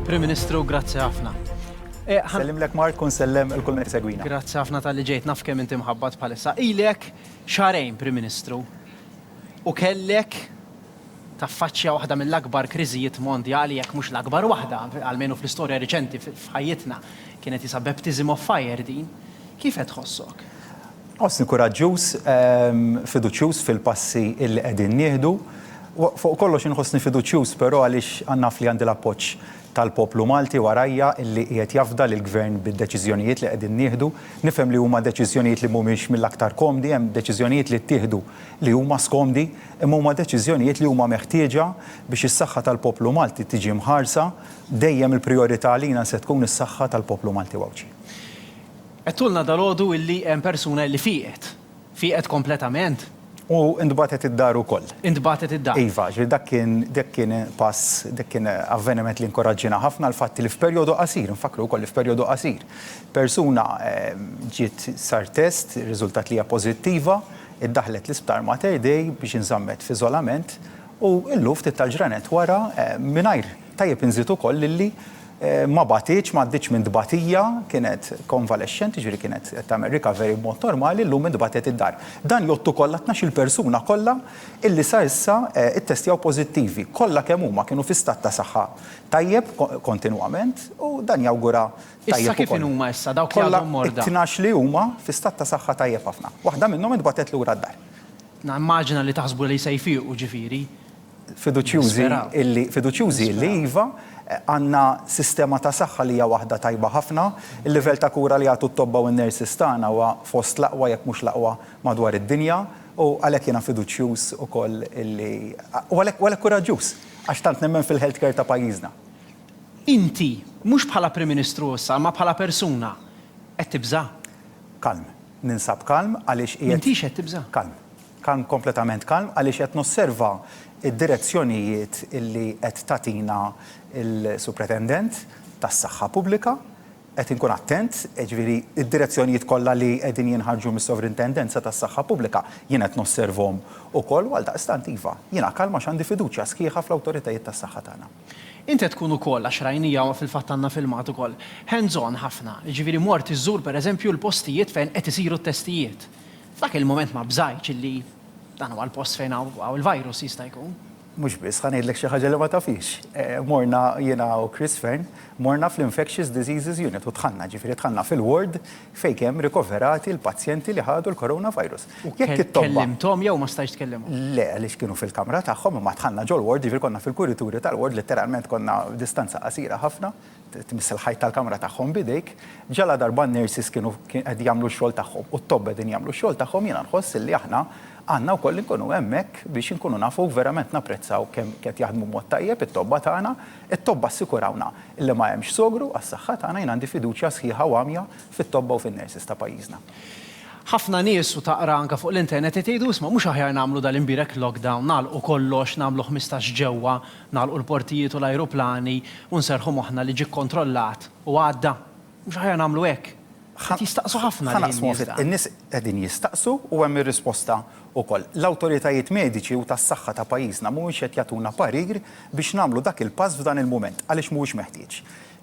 Prim Ministru, grazzi ħafna. Eh, sellem lek Mark, kun sellem il-kull minn segwina. Grazzi ħafna tal-li ġejt naf kemm inti mħabbat bħalissa. Ilek xarejn, Prim Ministru, u kellek taffaċċja waħda mill-akbar kriżijiet mondjali jekk mhux l-akbar waħda, għalmenu fl-istorja riċenti f'ħajjitna, kienet jisa baptism of fire din. Kif qed tħossok? Nħossni kuraġġuż, fiduċjuż fil-passi illi qegħdin nieħdu. Fuq kollox inħossni fiduċjuż però għaliex naf li għandi l-appoġġ tal-poplu Malti warajja illi qiegħed jafda lill-Gvern bid-deċiżjonijiet li qegħdin nieħdu. Nifhem li huma deċiżjonijiet li mhumiex mill-aktar komdi, hemm deċiżjonijiet li ttieħdu li huma skomdi, imma huma deċiżjonijiet li huma meħtieġa biex is-saħħa tal-poplu Malti tiġi mħarsa. Dejjem il-prijorità għalina se tkun is-saħħa tal-poplu Malti u Għawdxi. Għedtulna dalgħodu illi hemm persuna illi fieqet. Fieqet kompletament? U ntbagħtet id-dar ukoll. Intbagħtet id-dar. Iva, ġifieri dak kien, dak kien pass, dak kien avveniment li inkoraġġiena ħafna l-fatt li f'perjodu qasir, infakkru wkoll li f'perjodu qasir, persuna ġiet sar test, irriżultat li hija pożittiva, iddaħħlet l-isptar Mater Dei biex inżammet f'iżolament u llum ftit tal-ġranet wara mingħajr, tajjeb inżid ukoll illi, Ma bagħtitx, ma għaddietx minn tbatija, kienet konvalexxenti, jiġifieri kienet qed tagħmel recovery b'mod normali, llum intbagħtet id-dar. Dan jgħodd ukoll għat-tnax-il persuna kollha illi sa issa ittestjaw pożittivi. Kollha kemm huma kienu fi stat ta' saħħa tajjeb kontinwament u dan jawgura tajjeb ukoll. Issa kif inhuma issa dawk li għadhom morda? Kollha t-tnax li huma fi stat ta' saħħa tajjeb ħafna. Waħda minnhom intbagħtet lura d-dar. Nimmaġina li taħsbu li se jfiequ, ġifieri. fiduċjużi illi, fiduċjużi illi iva, għandna sistema ta' saħħa li hija waħda tajba ħafna, il-livell ta' kura li jagħtu t-tobba u n-nurses tagħna huwa fost l-aqwa jekk mhux l-aqwa madwar id-dinja u għalhekk jiena fiduċjuż ukoll illi, u għalhekk, u għalhekk kuraġġuż għax tant nemmen fil-health care ta' pajjiżna. Inti, mhux bħala Prim Ministru issa imma bħala persuna, qed tibża'? Kalm. Ninsab kalm għaliex qiegħed. M'intix qed tibża'? Kalm. Kan kompletament kalm għaliex qed nosserva d-direzzjonijiet li qed tagħtina l-Supretendent tas-Saħħa Pubblika. Qed inkun attent, jiġifieri d-direzzjonijiet kollha li qegħdin jinħarġu mis-Sovrintendenza tas-Saħħa Pubblika jien qed nosservhom ukoll u għaldaqstant iva, jiena kalm għax għandi fiduċja sħiħa fl-awtoritajiet tas-saħħa tagħna. Int qed tkun ukoll, għax rajnija u fil-fatt għandna filmat ukoll, hands-on ħafna, jiġifieri mort iżżur pereżempju l-postijiet fejn qed isiru t-testijiet. F'dak il-mument ma bżajtx illi dan huwa l-post fejn hawn il-virus, jista' jkun. Mhux biss, ħa ngħidlek xi ħaġa li ma tafhiex. Morna jiena u Chris Fearne, morna fl-Infectious Diseases Unit u dħalna, ġifieri dħalna fil-ward fejn kemm rikoverati l-pazjenti li ħadu l-coronavirus. U kellimthom jew ma stajtx tkellimhom? Le, għaliex kienu fil-kamra tagħhom, imma dħalna ġol-ward, ġifieri konna fil-kurituri tal-ward, litteralment konna distanza qasira ħafna. tmiss il-ħajt tal-kamra tagħhom b'idejk, ġaladarba n-nurses kienu qed jagħmlu x-xogħol tagħhom u t-tobba qegħdin jagħmlu x-xogħol tagħhom, jiena nħoss illi aħna għandna wkoll inkunu hemmhekk biex inkunu nafu verament napprezzaw kemm qed jaħdmu b'mod tajjeb it-tobba tagħna. It-tobba assikurawna illi ma hemmx sogru għas-saħħa tagħna, jien għandi fiduċja sħiħa u għamja fit-tobba u fin-nurses ta' pajjiżna. Ħafna nies, u taqra anke fuq l-internet, qed jgħidu isma' mhux aħjar nagħmlu dal-imbierek lockdown, nagħlqu kollox, nagħmlu ħmistax ġewwa, Nagħlqu l-portijiet u l-ajruplani u nserrħu moħħna li ġie kkontrollat u għadda? Mhux aħjar nagħmlu hekk? Qed jistaqsu ħafna lili n-nies dan. In-nies qegħdin jistaqsu u hemm ir-risposta wkoll. L-awtoritajiet mediċi u tas-saħħa ta' pajjiżna mhumiex qed jagħtuna parir biex nagħmlu dak il-pass f'dan il-mument għaliex mhuwiex meħtieġ.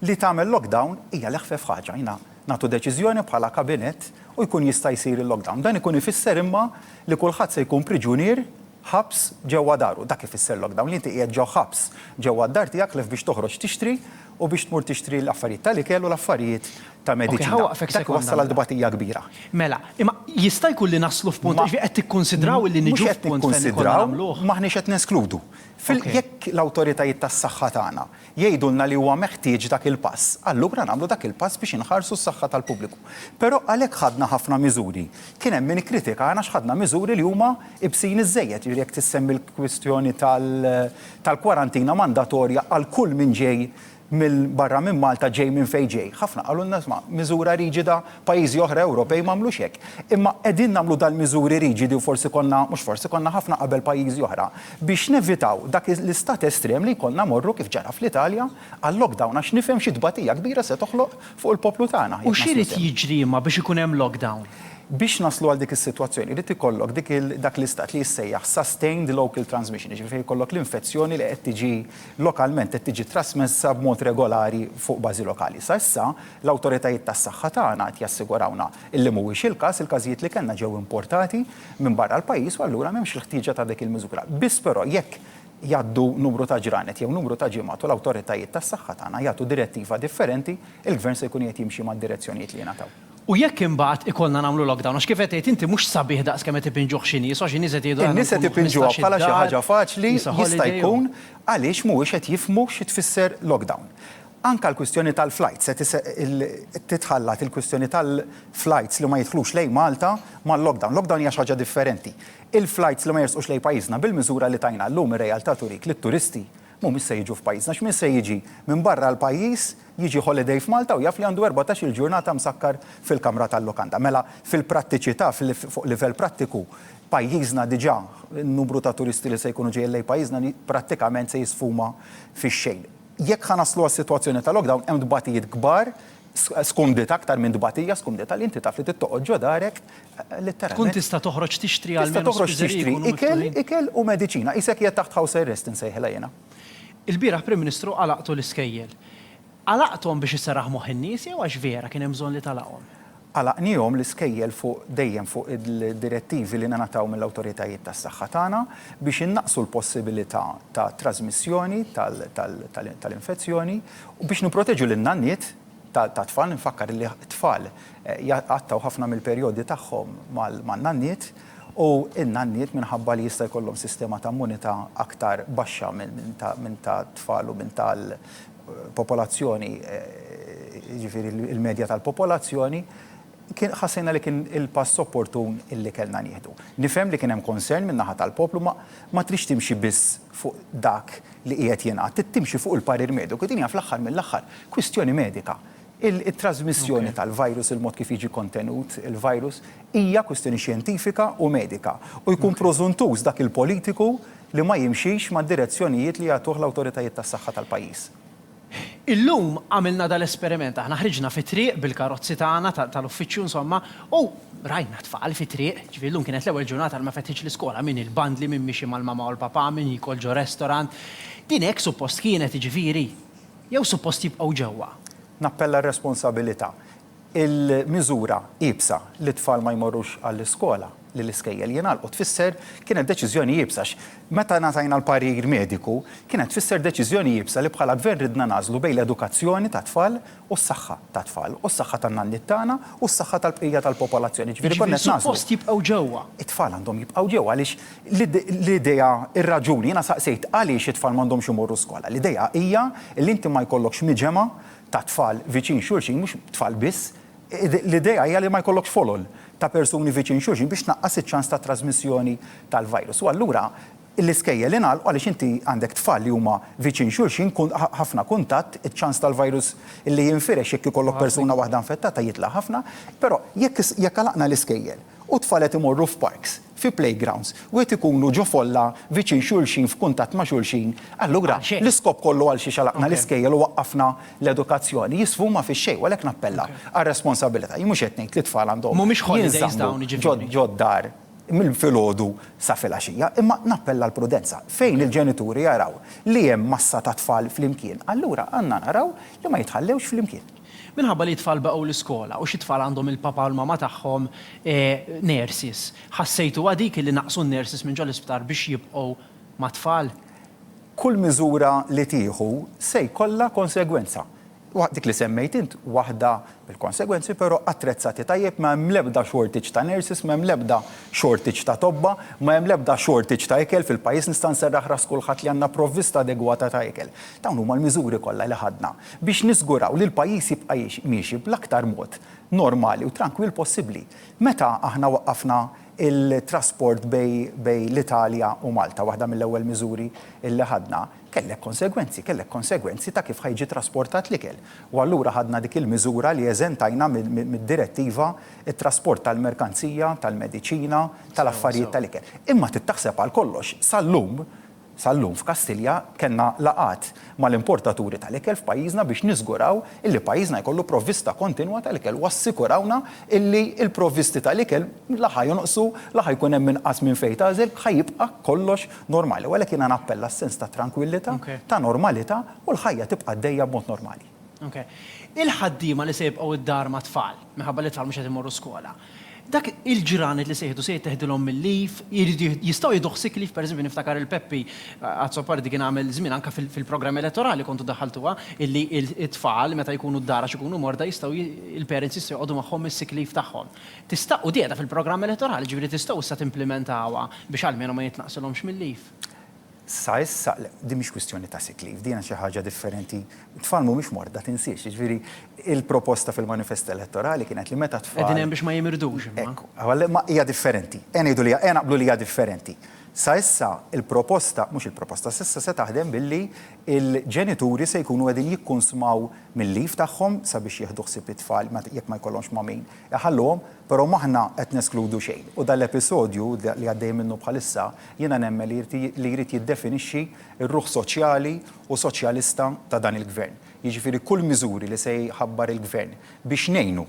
Li tagħmel lockdown hija l-eħfef ħaġa. Jiena nagħtu deċiżjoni bħala kabinett u jkun jista' jsir il-lockdown. Dan ikun ifisser imma li kulħadd se jkun priġunier ħabs ġewwa daru. Dak ifisser lockdown, li inti qiegħed ġo ħabs ġewwa d-dar tiegħek ħlief biex toħroġ tixtri u biex tmur tixtri l-affarijiet tal-ikel u l-affarijiet ta' mediċina. Dak iwassal għal tbatija kbira. Mela, imma jista' jkun li naslu f'punt, jiġifieri qed tikkunsidraw illi niġu f'punt fejn ikollna nagħmluh? Mhux qed nikkunsidraw, m'aħniex qed neskludu. Jekk l-awtoritajiet tas-saħħa tagħna jgħidulna li huwa meħtieġ dak il-pass, allura nagħmlu dak il-pass biex inħarsu s-saħħa tal-pubbliku. Però għalhekk ħadna ħafna miżuri. Kien hemm min ikkritikana għax ħadna miżuri li huma ibsin iżżejjed, jiġifieri jekk tissemmi l-kwistjoni tal-kwarantina mandatorja għal kull min ġej minn barra minn Malta, ġej minn fejn ġej. Ħafna qalulna, isma', miżura riġida Pajjiżi oħra Ewropej m'għamlux hekk. Imma qegħdin nagħmlu dal-miżuri riġidi u forsi konna, mhux forsi, konna ħafna qabel pajjiżi oħra, biex nevitaw dak l-istat estrem li jkollna mmorru, kif ġara fl-Italja, għal lockdown għax nifhem xi tbatija kbira se toħloq fuq il-poplu tagħna. U x'irid jiġri imma biex ikun hemm lockdown? Biex naslu għal dik is-sitwazzjoni jrid ikollok dik il, dak l-istat li jissejjaħ sustained local transmission, jiġifieri fejn ikollok l-infezzjoni li qed tiġi lokalment, qed tiġi trasmessa b'mod regolari fuq bażi lokali. Sa issa L-awtoritajiet tas-saħħa tagħna qed jassigurawna illi mhuwiex il-każ, il-każijiet li kellna ġew importati minn barra l-pajjiż u allura m'hemmx il-ħtieġa ta' dik il-miżura. Biss però jekk jgħaddu numru ta' ġranet jew numru ta' ġimgħat u l-awtoritajiet tas-saħħa tagħna jagħtu direttiva differenti, il-Gvern se jkun qiegħed jimxi mad-direzzjonijiet li jingħataw. U jekk imbagħad ikollna nagħmlu lockdown, għax kif qed tgħid inti mhux sabiħ daqs kemm qed ipinġuh xi nies, għax xi nies qed jgħidu aħna nkunu ħmistax-il dar, il-nies qed ipinġuha bħala xi ħaġa faċli, jista' jkun għaliex mhuwiex qed jifhmu xi tfisser lockdown. Anke l-kwistjoni tal-flajts se titħallat, il-kwistjoni tal-flajts li ma jidħlux lejn Malta mal-lockdown. Lockdown hija xi ħaġa differenti. Il-flajts li ma jersqux lejn pajjiżna bil-miżura li tajna llum ir-realtà turik li t-turisti mhumiex se jiġu f'pajjiżna. X'min se jiġi minn barra l-pajjiż jiġi holiday f'Malta u jaf li għandu erbatax-il ġurnata msakkar fil-kamra tal-lukanda. Mela fil-prattiċità, fuq livell prattiku, pajjiżna diġà, in-numru ta' turisti li se jkunu ġejjin lejn pajjiżna prattikament se jisfuma fix-xejn. Jekk ħa naslu għas-sitwazzjoni ta' lockdown, hemm tbatijiet kbar, skumdita aktar minn tbatija, skumdita li inti taf li trid toqgħod ġo darek, litteralment. Tkun tista' toħroġ tixtri għal spiżeriji jkunu miftuħin. Tista' toħroġ tixtri ikel, ikel u mediċina. Qisek qiegħed taħt house arrest insejħilha jiena. Ilbieraħ Prim Ministru għalaqtu l-iskejjel. Għalaqthom biex isserraħ moħħ in-nies jew għax vera kien hemm bżonn li tagħlaqhom? Għalaqnihom l-iskejjel fuq dejjem fuq id-direttivi li ningħataw mill-awtoritajiet tas-saħħa tagħna biex innaqqsu l-possibilità ta' trażmissjoni tal-infezzjoni u biex nipproteġu lin-nanniet tat-tfal. Infakkar li t-tfal jaqtgħu ħafna mill-perjodi tagħhom man-nanniet u n-nanniet minħabba li jista' jkollhom sistema ta' immunità aktar baxxa minn ta' tfal u minn ta' popolazzjoni, jiġifieri l-medja tal-popolazzjoni, kien ħassejna li kien il-pass opportun illi kellna nieħdu. Nifhem li kien hemm concern min-naħa tal-poplu ma ma tridx timxi biss fuq dak li qiegħed jingħad, trid timxi fuq il-parir mediku. Din hija fl-aħħar mill-aħħar kwistjoni medika. It-trażmissjoni tal-virus, il-mod kif jiġi kontenut il-virus, hija kwistjoni xjentifika u medika u jkun prożuntuż dak il-politiku li ma jimxix mad-direzzjonijiet li jagħtuh l-awtoritajiet tas-saħħa tal-pajjiż. Illum għamilna dal-esperiment, aħna ħriġna fit-triq bil-karozzi tagħna tal-uffiċċju insomma u rajna t-tfal fit-triq, jiġifieri llum kienet l-ewwel ġurnata li ma fetħitx l-iskola, min il-bandli, min miexi mal-mamà u l-papà, min jiekol ġo restaurant. Din hekk suppost kienet jiġifieri? Jew suppost jibqgħu ġewwa? Nappella r-responsabilità. Il-miżura iebsa li t-tfal ma jmorrux għall-iskola, li l-iskejjel jingħalqu tfisser kienet deċiżjoni iebsa għax meta ngħatajna l-parir mediku kienet tfisser deċiżjoni iebsa li bħala Gvern ridna nagħżlu bejn l-edukazzjoni tat-tfal u s-saħħa tat-tfal u s-saħħa tan-nanniet tagħna u s-saħħa tal-bqija tal-popolazzjoni. Jiġifieri konna qed nagħżlu. Jiġifieri suppost jibqgħu ġewwa? It-tfal għandhom jibqgħu ġewwa għaliex L-idea, ir-raġuni, jiena saqsejt għaliex it-tfal m'għandhomx imorru skola. L-idea hija li inti ma jkollokx miġemgħa ta' tfal viċin xulxin, mhux tfal biss, l-idea hija li ma jkollokx folol ta' persuni viċin xulxin biex tnaqqas iċ-ċans ta' trażmissjoni tal-virus. U allura l-iskejjel ingħalqu għaliex inti għandek tfal li huma viċin xulxin, ħafna kuntatt, iċ-ċans tal-virus li jinfirex jekk ikollok persuna waħda infettata jitla' ħafna. Però jekk għalaqna l-iskejjel u t-tfal qed imorru f'parks, fi playgrounds, wieħed ikunu ġo folla viċin xulxin f'kuntatt ma' xulxin, allura l-iskop kollu għal xiex għalaqna l-iskejjel u waqqafna l-edukazzjoni jisfuma fix-xejn u għalhekk nappella għar-responsabilità. Jien mhux qed ngħid li t-tfal għandhom jinżammu ġod-dar minn filgħodu sa filgħaxija, imma nappella għall-prudenza. Fejn il-ġenituri jaraw li hemm massa ta' tfal flimkien, allura għandna naraw li ma jitħallewx flimkien. Minħabba li t-tfal baqgħu l-iskola u xi tfal għandhom il-papa u l-mama tagħhom nurses, ħassejtuha dik li naqqsu n-nurses minn ġol-isptar biex jibqgħu mat-tfal? Kull miżura li tieħu se jkollha konsegwenza. Dik li semmejt int waħda mill-konsegwenzi, però attrezzati tajjeb, ma hemm l-ebda shortage ta' nurses, ma hemm l-ebda shortage ta' tobba, ma hemm l-ebda shortage ta' ikel fil-pajjiż, nista' nserraħ ras kulħadd li għandna provvista adegwata ta' ikel. Dawn huma l-miżuri kollha li ħadna. biex niżguraw li l-pajjiż jibqa' miexi bl-aktar mod normali u trankwill possibbli. Meta aħna waqqafna t-trasport bejn l-Italja u Malta, waħda mill-ewwel miżuri li ħadna, kellek konsegwenzi, kellek konsegwenzi ta' kif ħa jiġi trasportat l-ikel. U allura ħadna dik il-miżura li eżentajna mid-direttiva t-trasport tal-merkanzija, tal-mediċina, tal-affarijiet tal-ikel. Imma trid taħseb għal kollox, sal-lum, Sal-lum f'Kastilja kellna laqgħat mal-importaturi tal-ikel f'pajjiżna biex niżguraw illi pajjiżna jkollu provvista kontinwa tal-ikel u assikurawna illi l-provvisti tal-ikel la ħa jonqsu, la ħa jkun hemm inqas minn fejn tagħżel, ħa jibqa' kollox normali. U għalhekk jiena nappella s-sens ta' trankwillità, ta' normalità u l-ħajja tibqa' għaddejja b'mod normali. Il-ħaddiema li se jibqgħu d-dar mat-tfal, minħabba li t-tfal mhux qed imorru skola, Dak il-ġranet li se jieħdu se jitteħdilhom mil-leaf, jridu jistgħu jieħduh sick leave, pereżempju niftakar il-Peppi Azzopardi kien għamel żmien anke fil-programmi elettorali kontu daħħaltuha illi t-tfal meta jkunu d-dar għax ikunu morda jistgħu il-parents jistgħu joqogħdu magħhom is-sick leave tagħhom. Tista' u qiegħda fil-programm elettorali, ġifieri tistgħu issa timplimentawha biex almenu ma jitnaqqsilhomx mil-leave. Sa issa, le, din mhix kwistjoni ta' sick leave, din hija xi ħaġa differenti. It-tfal mhumiex morda, tinsiex. Jiġifieri, il-proposta fil-manifest elettorali kienet li meta t-tfal. Qegħdin hemm biex ma jimirdux imma. Hekk, għal ma hija differenti. Ejja ngħidu li hija, ejja naqblu li hija differenti. Sa issa il-proposta, mhux il-proposta, sa issa se taħdem billi l-ġenituri se jkunu qegħdin jikkunsmaw mil-leave tagħhom sabiex jieħdu ħsieb it-tfal meta, jekk ma jkollhomx ma' min iħalluhom, però m'aħna qed neskludu xejn. U dan l-episodju li għaddejjin minnu bħalissa Jiena nemmen li jrid li jrid jiddefinixxi r-ruħ soċjali u soċjalista ta' dan il-Gvern. Jiġifieri kull miżuri li se jħabbar il-Gvern biex ngħinu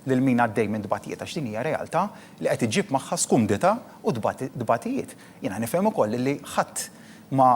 lil min għaddej minn tbatijiet għax din hija realtà li qed iġġib magħha skumdità u tbatijiet. Jiena nifhem ukoll li ħadd ma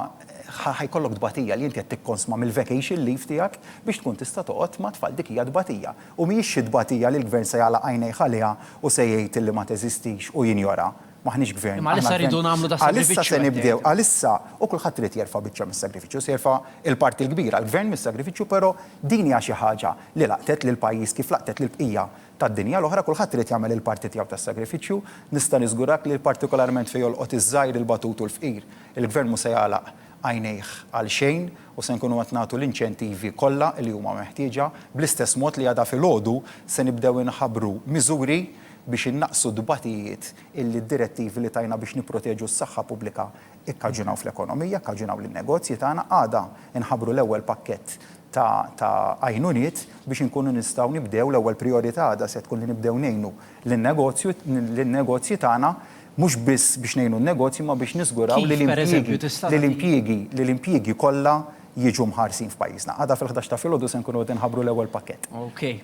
ħa ħa jkollok tbatija li inti qed tikkonsma mill-vacation leave tiegħek biex tkun tista' toqgħod mat-tfal dik hija tbatija u mhijiex xi tbatija li l-Gvern se jagħlaq għajnejh għaliha u se jgħid li ma teżistix u jinjora. M'aħniex gvern. Imma għalissa rridu nagħmlu da' sagrifiċċju. Għalissa se nibdew, għalissa, u kulħadd irid jerfa' biċċa mis-sagrifiċċju, se jerfa' il-parti l-kbira, l-gvern mis-sagrifiċċju, però din hija xi ħaġa li laqtet lill-pajjiż kif laqtet lill-bqija tad-dinja l-oħra, kulħadd irid jagħmel il-parti tiegħu tas-sagrifiċċju. Nista' niżgurak li partikolarment fejn jolqot iż-żgħir, il-batut u l-fqir, il-gvern mhu se jagħlaq għajnejh għal xejn u se nkunu qed nagħtu l-inċentivi kollha li huma meħtieġa, bl-istess mod li għada filgħodu se nibdew inħabbru miżuri biex innaqqsu t-tbatijiet illi d-direttivi li tajna biex nipproteġu s-saħħa pubblika kkaġunaw fl-ekonomija, kkaġunaw lin-negozji tagħna. Għada nħabbru l-ewwel pakkett ta' ta' għajnuniet biex inkunu nistgħu nibdew, l-ewwel prijorità għada se tkun li nibdew ngħinu lin-negozju, lin-negozji tagħna, mhux biss biex ngħinu n-negozji imma biex niżguraw li l-impjiegi, li l-impjiegi, li l-impjiegi kollha jiġu mħarsin f'pajjiżna. Għada fil-ħdax ta' filgħodu se nkunu qed inħabbru l-ewwel pakkett. Okej.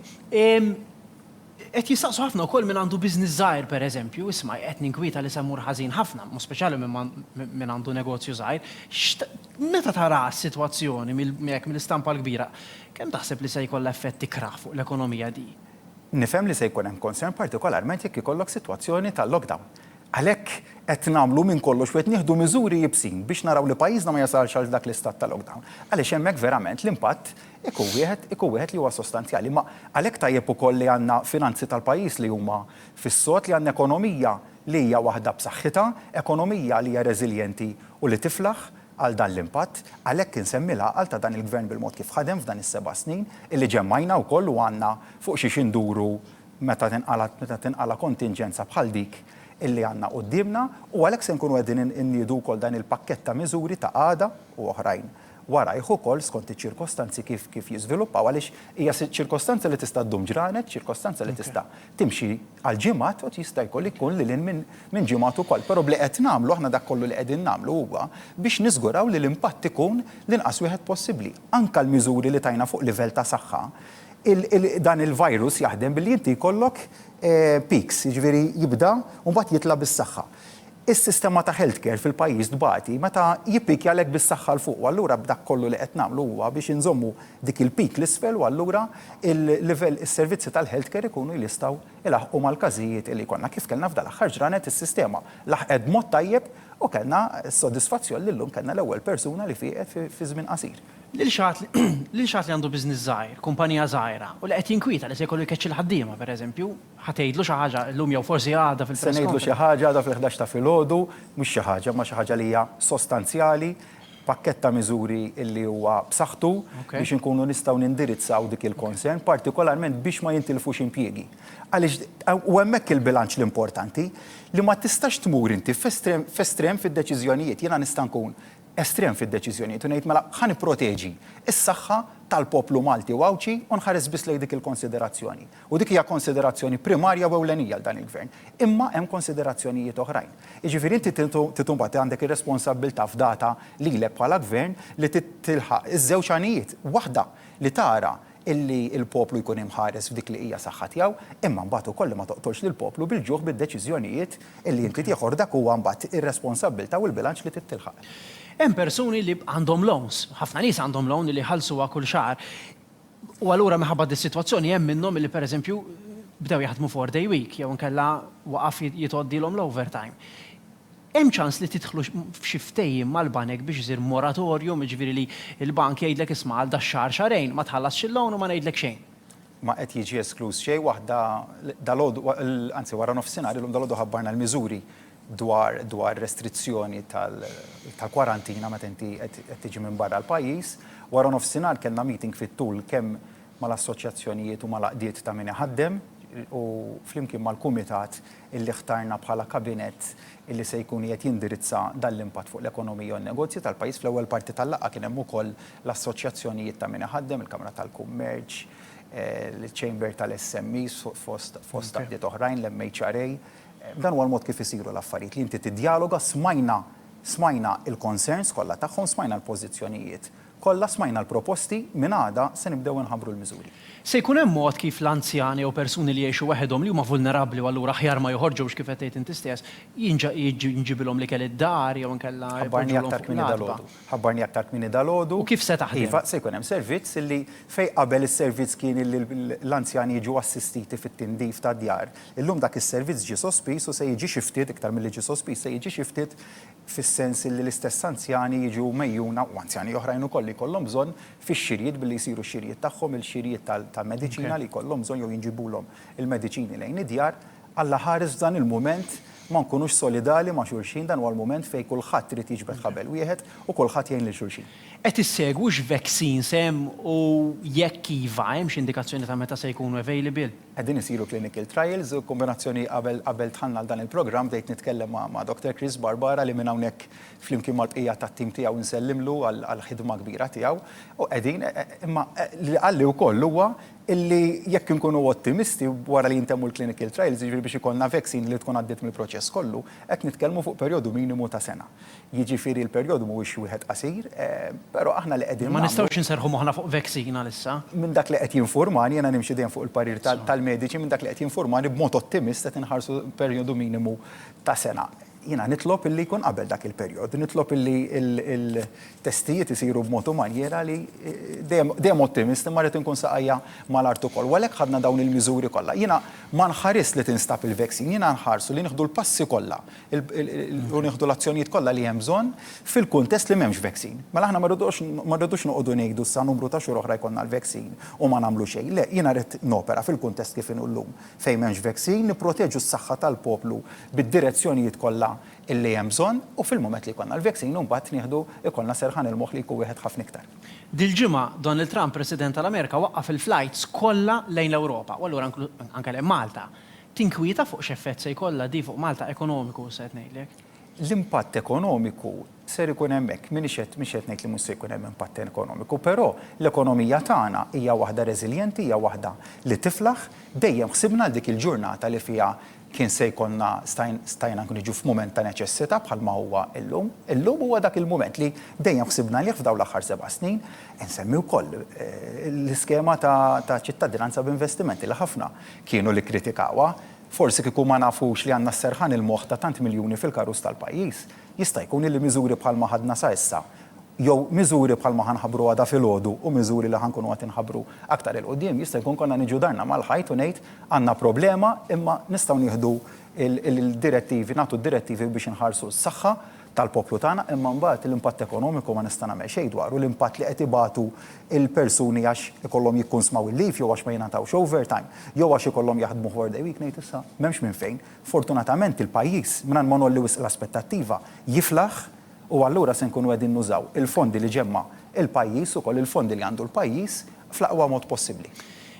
Qed jistaqsu ħafna wkoll min għandu business żgħir pereżempju, isma' qed ninkwieta li se mmur ħażin ħafna, mod speċjali min għandu negozju żgħir, meta taraha s-sitwazzjoni hekk mill-istampa l-kbira, kemm taħseb li se jkollha effett ikrah fuq l-ekonomija di? Nifhem li se jkun hemm concern partikolarment jekk ikollok sitwazzjoni ta' lockdown. Għalhekk qed nagħmlu minn kollox u qed nieħdu miżuri iebsin biex naraw li pajjiżna ma jasalx għal dak l-istat ta' lockdown. Għaliex hemmhekk verament l-impatt Ikun wieħed, ikun wieħed li huwa sostanzjali. Imma għalhekk tajjeb ukoll li għandna finanzi tal-pajjiż li huma fis-sod, li għandna ekonomija li hija waħda b'saħħitha, ekonomija li hija reżiljenti u li tiflaħ għal dan l-impatt. Għalhekk insemmi l-għaqal ta' dan il-Gvern bil-mod kif ħadem f'dan is-seba' snin, illi ġemmgħajna wkoll u għandna fuq xiex induru meta tinqala' meta tinqala' kontinġenza bħal dik illi għandna quddiemna u għalhekk se nkunu qegħdin inniedu wkoll dan il-pakkett ta' miżuri ta' għada u oħrajn. warajh ukoll skont iċ-ċirkostanzi kif kif jiżviluppaw għaliex hija ċirkostanza li tista' ddum ġranet, ċirkostanza li tista' timxi għal ġimgħat u jista' jkoll ikun lil hinn minn minn ġimgħat ukoll. Però b'li qed nagħmlu aħna dak kollu li qegħdin nagħmlu huwa biex niżguraw li l-impatt ikun l-inqas wieħed possibbli. Anke l-miżuri li tajna fuq livell ta' saħħa, il il dan il-virus jaħdem billi inti jkollok peaks, jiġifieri jibda u mbagħad jitla' bis-saħħa. Is-sistema ta' healthcare fil-pajjiż tbati meta jippikja l-hekk bis-saħħa 'l fuq u allura b'dak kollu li qed nagħmlu huwa biex inżommu dik il-peak 'l isfel u allura l-livell is-servizzi tal-healthcare ikunu jlistgħu jlaħħqu mal-każijiet li jkollna. Kif kellna f'dal-aħħar ġranet is-sistema laħqet b'mod tajjeb u kellna s-sodisfazzjon li llum kellna l-ewwel persuna li fieqet fi żmien qasir. Lil xi ħadd li għandu business żgħir, kumpanija żgħira, u li qed jinkwieta li se jkollu jkeċċi l-ħaddiema, pereżempju, Ħa tgħidlu xi ħaġa llum jew forsi għada fil-press conference? Se ngħidlu xi ħaġa għada fil-ħdax ta' filgħodu, mhux xi ħaġa, imma xi ħaġa li hija sostanzjali, pakkett ta' miżuri li huwa b'saħħtu biex inkunu nistgħu nindirizzaw dik il-concern, partikolarment biex ma jintilfux impjiegi. Għaliex u hemmhekk il-bilanċ l-importanti, li ma tistax tmur inti f'estrem fid-deċiżjonijiet. Jiena nista' nkun estrem fid-deċiżjonijiet u ngħid mela ħa nipproteġi s-saħħa tal-poplu Malti u Għawdxi u nħares biss lejn dik il-konsiderazzjoni. U dik hija konsiderazzjoni primarja u ewlenija għal dan il-Gvern. Imma hemm konsiderazzjonijiet oħrajn. Jiġifieri inti trid imbagħad għandek ir-responsabbiltà fdata lilek bħala Gvern li tilħaq iż-żewġ għanijiet. Waħda, li tara illi l-poplu jkun imħares f'dik li hija saħħa tiegħu, imma mbagħad ukoll li ma toqtolx lill-poplu bil-ġuħ bid-deċiżjonijiet illi inti tieħu għax dak huwa mbagħad ir-responsabbiltà u l-bilanċ li trid tilħaq. Hemm persuni li għandhom loans, ħafna nies għandhom loan li jħallsuha kull xahar. U allura minħabba dis-sitwazzjoni hemm minnhom li pereżempju bdew jaħdmu four day week jew inkella waqaf jitgħoddilhom l-overtime. Hemm ċans li tidħlu f'xi ftehim mal-banek biex isir moratorium, jiġifieri li l-bank jgħidlek isma' għal dax-xahar xahrejn ma tħallasx il-loan u ma ngħidlek xejn. Ma qed jiġi eskluż xejn waħda dalgħodu anzi waranofsinhar illum dalgħodu ħabbarna l-miżuri dwar dwar restrizzjoni tal tal-kwarantina meta inti qed qed tiġi minn barra l-pajjiż. Wara nofsinhar kellna meeting fit-tul kemm mal-assoċjazzjonijiet u mal-għaqdiet ta' min iħaddem u flimkien mal-kumitat illi ħtarna bħala kabinett illi se jkun qiegħed jindirizza dan l-impatt fuq l-ekonomija u n-negozji tal-pajjiż. Fl-ewwel parti tal-laqgħa kien hemm ukoll l-assoċjazzjonijiet ta' min iħaddem, il-Kamra tal-Kummerċ, il-Chamber tal-SMEs fost fost għaqdiet oħrajn, l-MHRA. Dan huwa l-mod kif isiru l-affarijiet, li inti tiddjaloga, smajna, smajna l-concerns kollha tagħhom, smajna l-pożizzjonijiet kollha, smajna l-proposti, minn għada se nibdew inħabbru l-miżuri. Se jkun hemm mod kif l-anzjani jew persuni li jgħixu waħedhom, li huma vulnerabbli u allura aħjar ma joħorġux kif qed tgħid inti stess, jinġ, jinġibilhom l-ikel id-dar jew inkella jpoġġulhom fuq l-għatba? Ħabbarni aktar kmieni dalgħodu. U kif se taħdem? Iva, se jkun hemm servizz illi fejn qabel is-servizz kien illi l-anzjani jiġu assistiti fit-tindif tad-djar, illum dak is-servizz ġie sospiż u se jiġi xi ftit, iktar milli ġie sospiż, se jiġi xi ftit fis-sens illi l-istess anzjani jiġu mgħejjuna, u anzjani oħrajn ukoll li jkollhom bżonn, fix-xirjiet billi jsiru x-xirjiet tagħhom, il-xirjiet tal-mediċina li jkollhom bżonn jew jinġibulhom il-mediċini lejn id-djar. Alla ħares f'dan il-mument Ma nkunux solidali ma' xulxin, dan huwa l-mument fejn kulħadd irid jiġbed ħabel wieħed u kulħadd jgħin lil xulxin. Qed issegwu x'vaccines hemm u jekk iva, hemm xi indikazzjoni ta' meta se jkunu available? Qegħdin isiru clinical trials, kombinazzjoni qabel qabel dħalna għal dan il-programm bdejt nitkellem ma' ma' Doctor Chris Barbara li minn hawnhekk flimkien mal-bqija tat-tim tiegħu nsellimlu għall-ħidma kbira tiegħu u qegħdin imma li qalli wkoll huwa illi jekk inkunu ottimisti wara li jintemmu l-clinical trials, jiġifieri biex ikollna vaccine li tkun għaddiet mill-proċess kollu, qed nitkellmu fuq perjodu minimu ta' sena. Jiġifieri l-perjodu mhuwiex wieħed qasir, però aħna li qegħdin nagħmlu. Ma nistgħux inserrħu moħħna fuq vaccine għalissa. Minn dak li qed jinfurmani, jiena nimxi dejjem fuq il-parir tal-mediċi, minn dak li qed jinfurmani b'mod ottimist qed inħarsu perjodu minimu ta' sena. Jiena nitlob illi jkun qabel dak il-perjodu, nitlob illi il-testijiet isiru b'mod u manjiera li, dejjem ottimist, imma rrid inkun saqajja mal-art ukoll. U għalhekk ħadna dawn il-miżuri kollha. Jiena ma nħarisx li tinstab il-vaccine, jiena nħarsu li nieħdu l-passi kollha u nieħdu l-azzjonijiet kollha li hemm bżonn fil-kuntest li m'hemmx vaccine. Mela aħna ma rridux noqogħdu ngħidu sa numru ta' xhur oħra jkollna l-vaccine u ma nagħmlu xejn. Le, jiena rrid nopera fil-kuntest kif inhu llum. Fejn m'hemmx veksin, nipproteġu s-saħħa tal-poplu bid-direzzjonijiet kollha li hemm bżonn u fil-mument li jkollna l-veksin imbagħad nieħdu ikollna serħan il-moħħ li jkun wieħed ħafna iktar. Dil-ġimgħa, Donald Trump, President tal-Amerika, waqqaf il-flajts kollha lejn l-Ewropa u allura anke lejn Malta. Tinkwieta fuq x'effett se jkollha di fuq Malta ekonomiku, se ngħidlek? L-impatt ekonomiku ser ikun hemmhekk. M'iniex qed, mhix qed ngħid li mhux se jkun hemm impatt ekonomiku, però l-ekonomija tagħna hija waħda reżiljenti, hija waħda li tiflaħ. Dejjem ħsibna għal dik il-ġurnata li fiha kien se jkollna, stajna anke niġu f'mument ta' neċessità bħal ma huwa llum. Illum huwa dak il-mument li dejjem ħsibna għalih f'dawn l-aħħar seba' snin. Insemmi wkoll l-iskema ta' ċittadinanza b'investimenti li ħafna kienu li kkritikawha. Forsi kieku ma nafux li għandna s-serħan il-moħħ ta' tant miljuni fil-karus tal-pajjiż, jista' jkun illi miżuri bħalma ħadna sa issa, jew miżuri bħalma ħa nħabbru għada filgħodu u miżuri li ħa nkunu qed inħabbru aktar 'il quddiem, jista' jkun konna niġu darna mal-ħajt u ngħid, għandna problema imma nistgħu nieħdu l-direttivi, nagħtu d-direttivi biex inħarsu s-saħħa, tal-poplu tagħna, imma mbagħad l-impatt ekonomiku ma nista' nagħmel xejn dwaru, l-impatt li qed ibatu l-persuni għax ikollhom jikkunsmaw il-leave jew għax ma jingħatawx overtime, jew għax ikollhom jaħdmu four day week, ngħid issa, m'hemmx minn fejn. Fortunatament il-pajjiż, mingħajr ma ngħolli wisq l-aspettattiva, jiflaħ u allura se nkunu qegħdin nużaw il-fondi li ġemma' l-pajjiż, ukoll il-fondi li għandu l-pajjiż, fl-aqwa mod possibbli.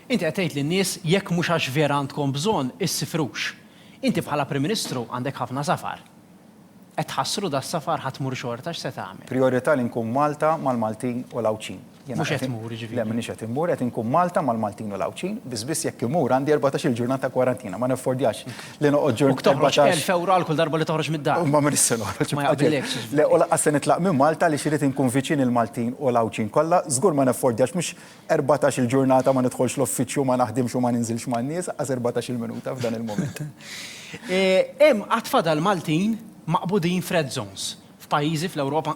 Inti qed tgħid lin-nies jekk mhux għax vera għandkom bżonn, issifrux. Inti bħala Prim Ministru għandek ħafna safar. Qed tħassru das-safar ħa tmur xorta x'se tagħmel? Prijorità li nkun Malta mal-Maltin u l-Għawdxin. Mhux qed tmur jiġifieri. Le m'iniex qed immur, qed inkun Malta mal-Maltin u l-Għawdxin, biss biss jekk immur għandi erbatax-il ġurnata kwarantina, ma naffordjax li noqgħod ġurnata. U k toħroġ elf ewro għal kull darba li toħroġ mid-dar. Imma m'iniex se noħroġ. Ma jaqbillekx jiġifieri. Le u lanqas se nitlaq minn Malta għaliex irid inkun viċin il-Maltin u l-Għawdxin kollha, żgur ma naffordjax, mhux Erbatax-il ġurnata ma nidħolx l-uffiċċju, ma naħdimx u ma ninżilx man-nies, aqqas erbatax-il minuta f'dan il-mument. Hemm għad fadal Maltin maqbudin f'red zones. F'pajjiżi fl-Ewropa,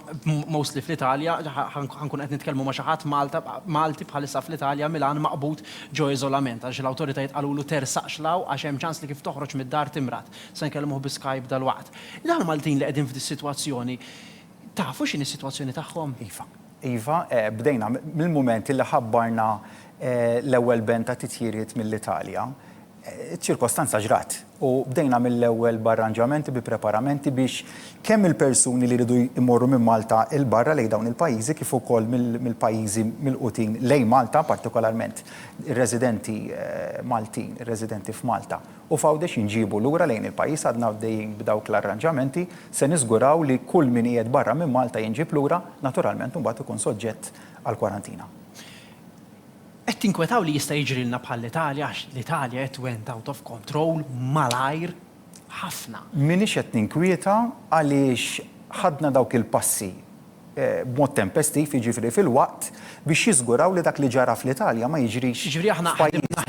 mostly fl-Italja, ħa nkunu qed nitkellmu ma' xi ħadd Malta, Malti bħalissa fl-Italja, Milan, maqbud ġo iżolament għaliex l-awtoritajiet qalulu tersaqx 'l hawn għax hemm ċans li kif toħroġ mid-dar timrad. Se nkellmuh bi Skype dalwaqt. Dawn il-Maltin li qegħdin f'dis-sitwazzjoni, tafu x'inhi s-sitwazzjoni tagħhom? Iva. Iva, bdejna mill-mument li ħabbarna l-ewwel band ta' titjiriet mill-Italja. Iċ-ċirkostanza ġrat u bdejna mill-ewwel b'arranġamenti, bi preparamenti biex kemm il-persuni li jridu jmorru minn Malta 'l barra lejn dawn il-pajjiżi kif ukoll mill-pajjiżi milqutin lejn Malta, partikolarment ir-residenti Maltin, ir-residenti f'Malta. u f'Għawdex inġiebu lura lejn il-pajjiż għadna għaddejjin b'dawk l-arranġamenti, se niżguraw li kull min qiegħed barra minn Malta jinġieb lura, naturalment imbagħad ikun soġġett għall-kwarantina. Qed tinkwetaw li jista' jiġrilna bħall-Italja għax l-Italja it went out of control malajr ħafna. M'iniex qed ninkwieta għaliex ħadna dawk il-passi b'mod tempestiv, jiġifieri filwaqt, biex jiżguraw li dak li ġara fl-Italja ma jiġrix f'pajjiżna.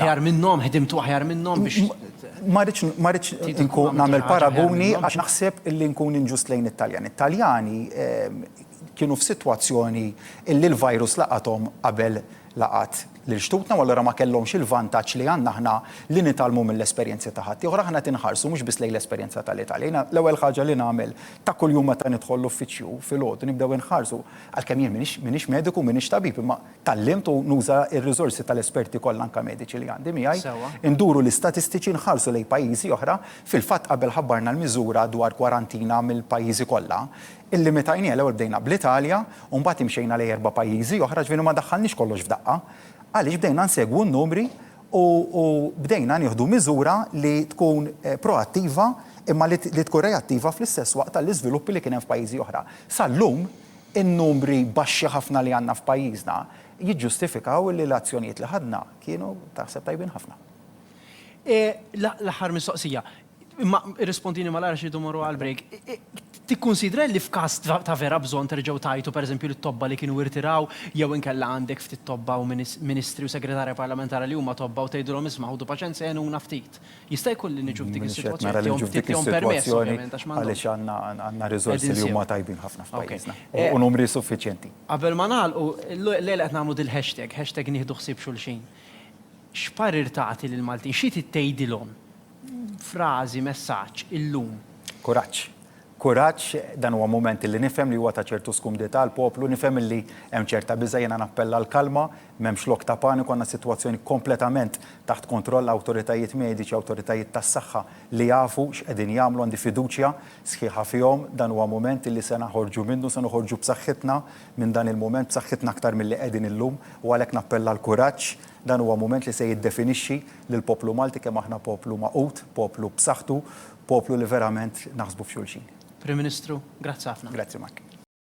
Ma rridx inkun nagħmel paraguni għax naħseb li nkun inġust lejn it-Taljani. It-Taljani kienu f'sitwazzjoni li l-virus laqathom qabel laqgħat lil xtutna u allura ma kellhomx il-vantaġġ li għandna aħna li nitgħallmu mill-esperjenzi ta' ħaddieħor. Aħna qed inħarsu mhux biss lejn l-esperjenza tal-Italja. Jiena l-ewwel ħaġa li nagħmel ta' kuljum meta nidħol l-uffiċċju filgħodu nibdew inħarsu, għalkemm jien m'iniex m'iniex mediku m'iniex tabib imma tgħallimt u nuża r-riżorsi tal-esperti kollha anke mediċi li għandi miegħi, induru l-istatistiċi nħarsu lejn pajjiżi oħra, fil-fatt qabel ħabbarna l-miżura dwar kwarantina mill-pajjiżi kollha, Illimitajniha, l-ewwel bdejna bl-Italja u mbagħad imxejna lejn erba' pajjiżi oħra, ġifieri ma daħħalniex kollox f'daqqa. Għaliex bdejna nsegwu n-numri u u bdejna nieħdu miżura li tkun proattiva imma li li tkun reattiva fl-istess waqt għall-iżviluppi li kien hemm f'pajjiżi oħra. Sal-lum, in-numri baxxi ħafna li għandna f'pajjiżna jiġġustifikaw li l-azzjonijiet li ħadna kienu taħseb tajbin ħafna. L-aħħar mistoqsija, Imma irrispondini malajr għax irridu morru għall-break. Tikkunsidra li f'każ ta' vera bżonn terġgħu tgħajtu pereżempju lit-tobba li kienu irtiraw jew inkella għandek ftit tobba u ministri u segretarja parlamentari li huma tobba u tgħidilhom isma' ħudu paċenza għenuna ftit. Jista' jkun li niġu f'dik is-sitwazzjoni tihom ftit tihom permess ovvjament għax m'għandhomx. Għaliex għandna riżorsi li huma tajbin ħafna f'pajjiżna u numri suffiċjenti. Qabel ma nagħlqu, l-lejla qed nagħmlu dil-hashtag, hashtag nieħdu ħsieb xulxin. X'parir tagħti lill-Maltin? Xi trid tgħidilhom? Frażi, messaġġ, illum. Kuraġġ. Kuraġġ, dan huwa mument li nifhem li huwa ta' ċertu skumdità għall-poplu, nifhem illi hemm ċerta biża', jiena nappella għall-kalma, m'hemmx lok ta' paniku, għandna sitwazzjoni kompletament taħt kontroll, awtoritajiet mediċi, awtoritajiet tas-saħħa li jafu x'qegħdin jagħmlu, għandi fiduċja sħiħa fihom, dan huwa mument li se naħorġu minnu, se noħorġu b'saħħitna minn dan il-mument, b'saħħitna aktar milli qegħdin illum u għalhekk nappella għall-kuraġġ, Dan huwa mument li se jiddefinixxi lill-poplu Malti kemm aħna poplu magħqud, poplu b'saħħtu, poplu li verament naħsbu f'xulxin. Prim Ministru, grazzi ħafna. Grazzi Mike.